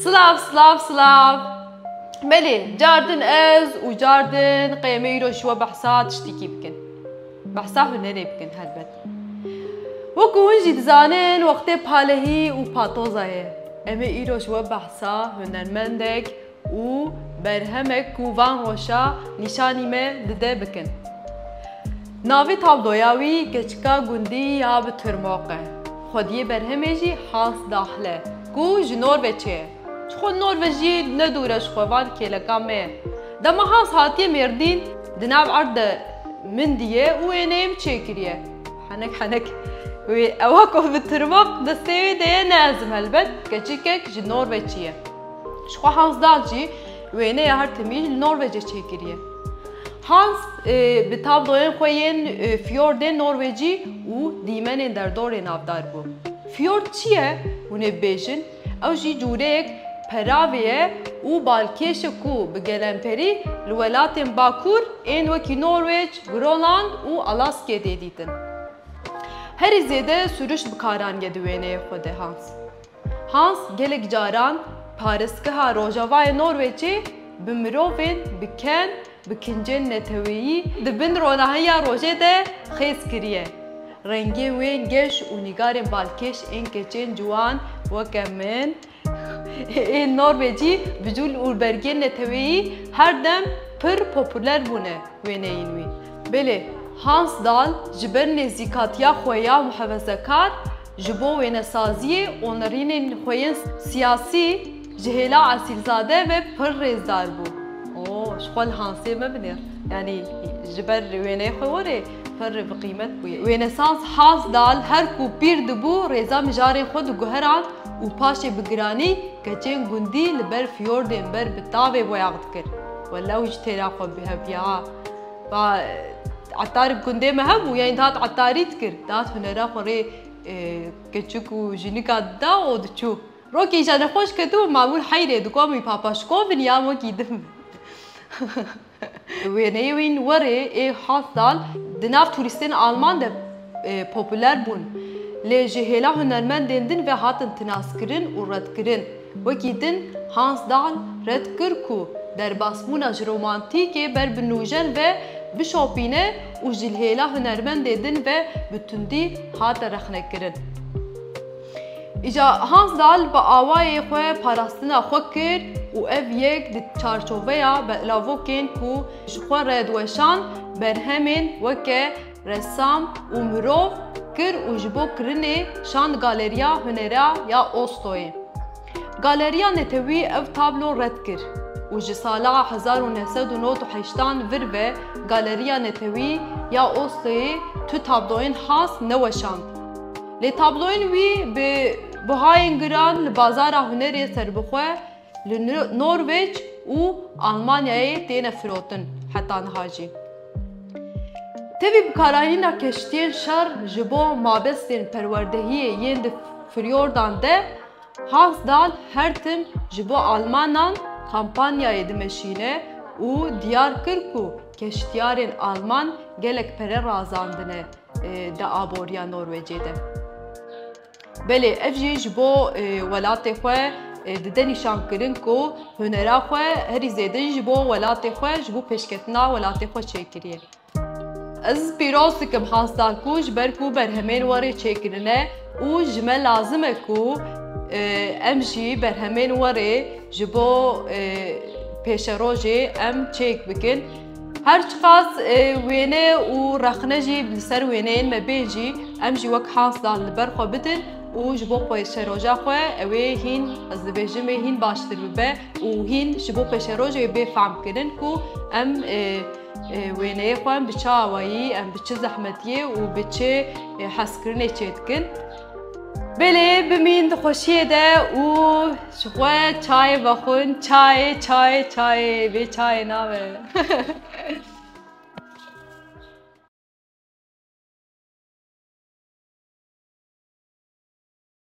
Slav, slav, slav. Belê, car din ez û car din qêmê îro ji we behsa tiştekî bikin. Behsa hunerê bikin helbet. Wekî hûn jî dizanin wextê palehî û patoza ye. Em ê îro ji we behsa hunermendek û berhemek ku van roşa nîşanî me dide bikin. Navê tabloya wî Keçika Gundî ya bi Tirmoq e. Xwediyê berhemê jî Hans Dahl e ku ji Norveçê ye. Çixwe Norveç jî ne dûr e ji xwe van kêleka me ye. Dema Hans hatiye Mêrdîn di nav erd de mindiye û wêneyêm çêkiriye. Henek henek wê ewa ku bi Tirmoq destê wê de ye ne ezim helbet, keçikek ji Norveçî ye. Ji xwe Hans Dahl jî wêneya her timî li Norwecê çêkiriye. Hans bi tabloyên xwe yên fiyordên norwecî û dîmenên derdorê navdar bû. Fiyord çi ye? Hûn ê bibêjin, ew jî cûreyek peravê ye û balkêş e ku bi gelemperî li welatên bakur ên wekî Norwec, Gronland û Alaskê tê dîtin. Herî zêde sûriş bikarandiye di wêneyê xwe de Hans. Hans gelek caran parêzgeha Rojavayê Norwêcê bi mirovên bi ken bi kincên neteweyî di bin ronahiya rojê de xêz kiriye. Rengên wê yên geş û nîgarên balkêş ên keçên ciwan weke min ên Norwêcî bi jûl û bergên neteweyî her dem pir populer bûne wêneyên wî. Belê Hans Dahl ji ber nêzîkatiya xwe ya muhevezekar Ji bo wênesaziyê û nirînên xwe yên siyasî ji hêla Esîlzade ve pir rêzdar bû. Oo, ji xwe li hansê mebinêr. Yanî ji ber wêneyê xwe werê pir bi qîmet bûye. Wênesaz Hazdal her ku pîr dibû rêza mijarên xwe diguherand û paşê bi giranî keçên gundî li ber fiyordên ber bi tavê boyax dikir. Wele ew jî têra xwe bihevdiya ha. Ba etar gundê me hebû yanî dihat etarî dikir. Dihat hunera xwe rê keçik û jinika dida û diçû. Rokê îja nexweş ketibû Mamûl heyrê di komî Papaşkovin ya wekî din be. Wêneyê wî werê ê hat sal di nav turîstên alman de populer bûn. Lê ji hêla hunermendên din ve hatin tinaskirin û redkirin. Wekî din Hans Dahl red kir ku derbasbûna ji romantîkê ber bi nûjen ve bişopîne û ji lhêla hunermendê din ve bi tundî hate rexnekirin. Îja Hans Dahl bi awayê xwe parastina xwe kir û ev yek di çarçoveya belavokên ku ji xwe re diweşand berhemên weke Ressam û mirov kir û ji bo kirinê şand Galeriya Hunera ya Ostoyê. Galeriya netewî ev tablo red kir û ji sala hezar û neh sed û nod û heştan vir ve Galeriya Netewî ya Ostoyê tu tabloyên has neweşand. Lê tabloyên wî bi buhayên giran li bazara hunerê serbixwe Li Norwêc û Almanyayê têne firotin heta niha jî. Tevî bikaranîna keştiyên şer ji bo mabestên perwerdehiyê yên di firyordan de Hansdal her tim ji bo almanan kampanyayê dimeşîne û diyar kir ku keştiyarên alman gelek pere razandine di aboriya Norwêcê de. Belê ev jî ji bo welatê xwe dide nîşankirin ku hunera xwe herî zêde ji bo welatê xwe ji bo pêşketina welatê xwe çêkiriye. Ez pîroz dikim hasta ku ji ber ku berhemên we rê çêkirine û ji me lazim e ku em jî berhemên we rê ji bo pêşerojê em çêk bikin. Her çiqas wêne û rexne jî li ser wêneyên me bên jî em jî wek Hansdan li ber xwe bidin û ji bo pêşeroja xwe ew ê hîn ez dibêjim ê hîn baştir bibe û hîn ji bo pêşerojê bê fehm kirin ku em wêneyê xwe em bi çi awayî em bi çi zehmetiyê û bi çi hezkirinê çê dikin. Belê bimîn di xweşiyê de û ji xwe çayê vexwin çayê çayê çayê bê çayê nabe.